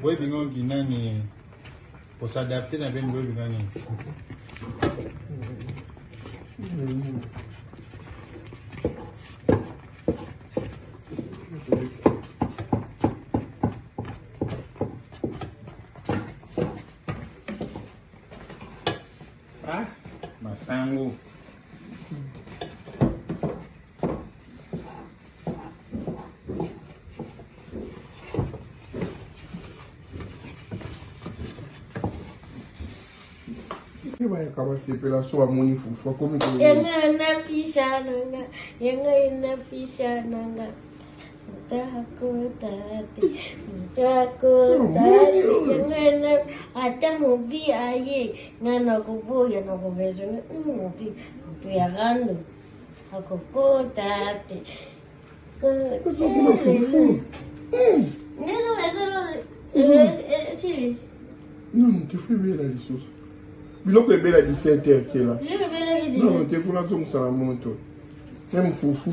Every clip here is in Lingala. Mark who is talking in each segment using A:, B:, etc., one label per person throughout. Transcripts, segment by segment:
A: Boye bingo nginani pour s'adapter na ben boye bingo nini Ah, masango.
B: bayaka basepela so amoni fufu akomi yanga na fisha
C: nanga yanga na fisha nanga ata mobi aye nga nakoboya nakobezana mobi moto ya rando akokota te nani tefu
B: ebela lisusu biloko ebela 17 heure kela
C: tefu nazongisaka
B: moto meme fufu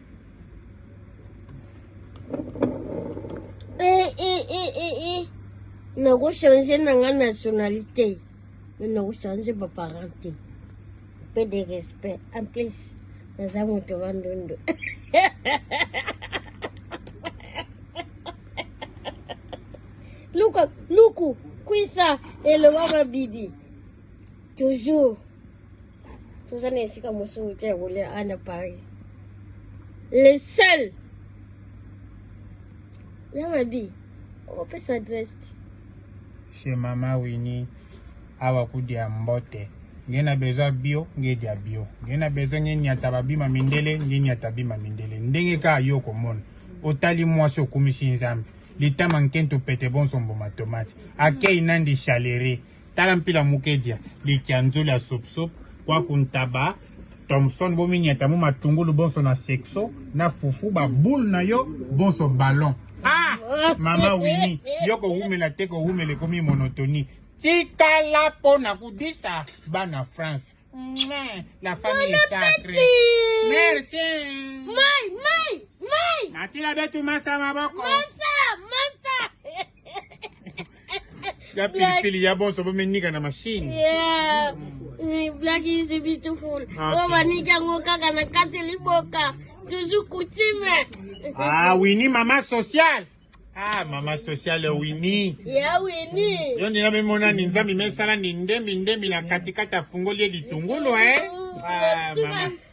C: Eh, eh, eh, eh, eh. nakochange na nga nationalité me nakochange baparent te mpe de respect en plus naza moto wa ndondo luka luku kwisa eloba mabidi toujours toza na esika mosusu te ya kolia a na paris le seul ya mabi opesa adresse te
D: chez mama wini awa kudia mbote nge na besoin bio nge dia bio nge na besoin nge nyata babima mindele nge nyata bima mindele ndenge kaka yo okomona otali mwasi okumisi nzambe litama nkento pete bonsombo matomati akei nandi chalere mm. Tala mpila mukedia likianzoli ya sopsop kwa kuntaba Thomson bominyata mo matungulu bonso na sexo na fufu ba boule na yo bonso ballon ah mama wini yo kowumela te kowumela ekomi monotonie tikala mpo na kodisa bana france la famille bon sacrée merci mai
C: mai mai matila
D: betu masa maboko
C: masa
D: ya pilipili ya bonso bomenika na mashine yeah.
C: Mm, black is beautiful ah, oyo baniki yango kaka na kati liboka toujours coutume ah wini
D: mama social ah mama social ya wini ya wini
C: yo ndina memona ni
D: nzambi mesala ni ndembi ndembi na katikati afungoli ye litungulu eh ah, mama.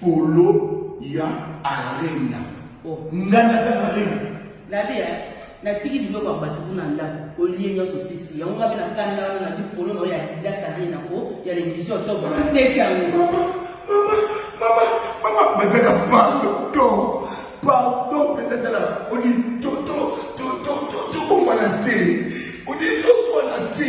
E: polo ya arena oh. ngai
F: naza na arena
E: nalia eh,
F: natiki biloko ya bato kuna ndako olie nyonso sisi yango ngabe na kanda wana nati polo nao ya adidas arena po ya levision tobo nateki yango
E: mataka pardon pardon pendatala oni tobongwana te oni toswana te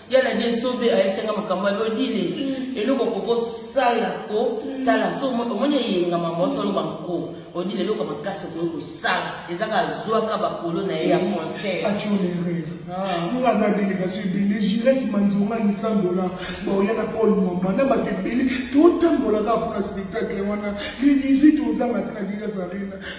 F: ya na die sobe ayesenga makambo ya lodile mm. eloko kokosala kotala mm. so omoni eyenga mambo oso oloba nko odile eloko makasi okoki kosala ezaka azwaka bakolo na ye ya mm. conseil
E: nga ah. aza delegation ebele gires manzonga lisandola baoya na paul mama na bato ebele totambolaka mpona spectacle wana le 18 ozanga te na bilas arena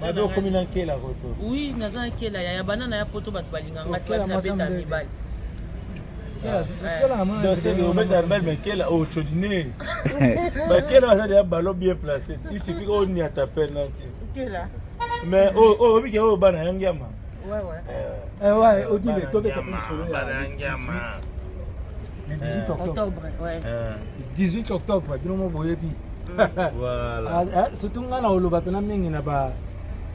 F: babi okomi na nkela
A: koto oui naza na nkela
F: ya bana na ya poto bato balinga
A: nga te babi nabeta mibali obeta mbali makela ocodine bakela baza deya balo bien place isifi oniata penalti
F: mais
A: oyobi ke oyo bana yangiama Ouais,
F: ouais. Euh, eh ouais, Odile, toi,
G: tu as pris le solo le 18 euh, octobre. octobre ouais.
F: euh. 18
G: octobre, bino mo boyebi. Voilà.
A: Ah, ah, surtout nga na
G: oloba pena mingi na ba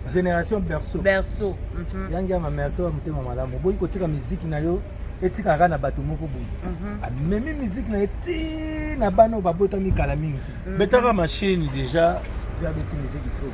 G: génération berceau. Berceau. Mm -hmm. Yangi ma merci wa mutema malamu. Boyi kotika muziki na yo etikaka kaka na bato moko boye mhm. amemi ah, miziki na ye ti na bana oyo babotami kala mingi te mhm. betaka mashini
A: déjà abeti miziki
G: trop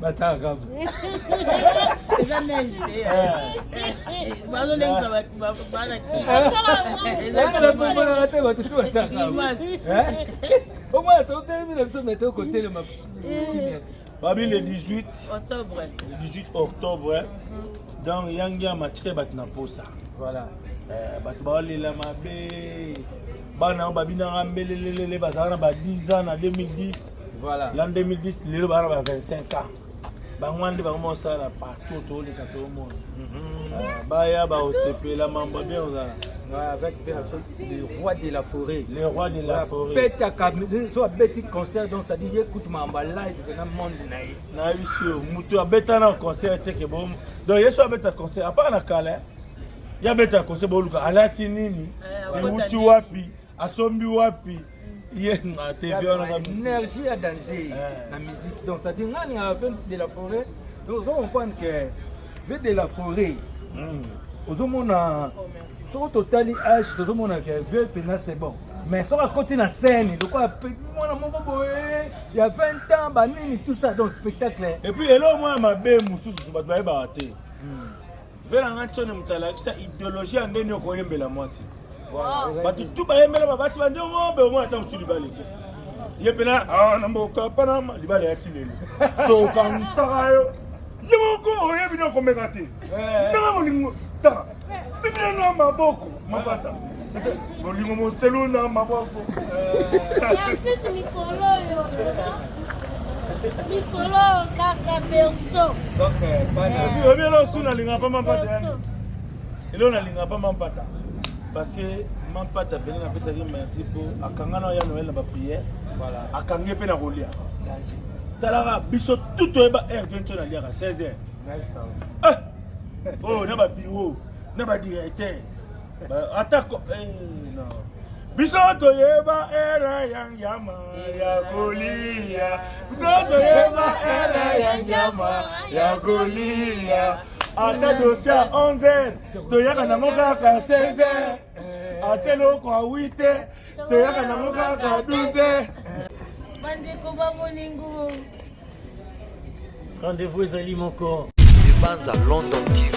G: bataka kaka
F: eza neige
G: te bazolengisa bana kiaomona te bato tu bataka omona totelemi na biso me tokotelema kimia te
A: babi le 18 octobre le 18 octobre mhm. donc yangi ya matike bato na posa voilà
G: eh, bato
A: baolela mabe bana oyo babinaka mbelelelele bazalaka na ba 10 ans na 2010 Voilà. L'an
G: 2010, lelo
A: bana ba 25 ans. bango wana nde bango bakosala partout toleka tomona mhm. ah, baya bakosepela mambo bien ozala avec
G: le roi de la forêt le roi de la forêt
A: petaka so
G: abeti concert donc ça dit ye kutu mamba live na monde na ye na bisi yo
A: moto abeta na concert te ke bo donc ye so abeta concert apart na kala ya beta concert boluka alati nini ewuti eh, wapi asombi wapi énergie ya danger
G: na musique donc ça dit nga ningaka vin de la forêt donc ozo comprendre que vin de la forêt hmm. ozomona soki totali age tozomona ke vieux mpena c'est bon mais soki akoti na scène lokola mwana moko boye ya 20 ans banini tout ça donc spectacle epuis eloo mwa ya
A: mabe mosusu bato bayebaka te hmm. vela nga tshone moto alakisa ideologie ya ndeni okoyembela mwasi bato tu bayembela babasi bande ngombe omona ata mosu libala ekufi ye mpena ah, na mboka panama libala ya tilelo tokanisaka yo ye moko oyebi na okomeka te eh. ndanga molingo ta bibina na maboko mabata bolingo moselu na maboko
C: mikolo oyo mikolo kaka berso
G: oyebi elo osu nalinga
A: mpa mampata elo nalinga mpa mampata parce que mampata pene napesaki merci mpo akanga na ya noel na bapriere akangi mpe na kolia talaka biso tout oyeba heure 20 aliaka 16 heure oyo na babiro na ba directeur ata eh, non biso toyeba era ya nyama ya kolia biso toyeba era ya nyama ya kolia ata dosi ya 11 toyaka nango kaka 16 ata eloko ya 8 toyaka nango kaka 12 bandeko
F: bamoningo
H: rendez-vous ezali moko ebanza london tv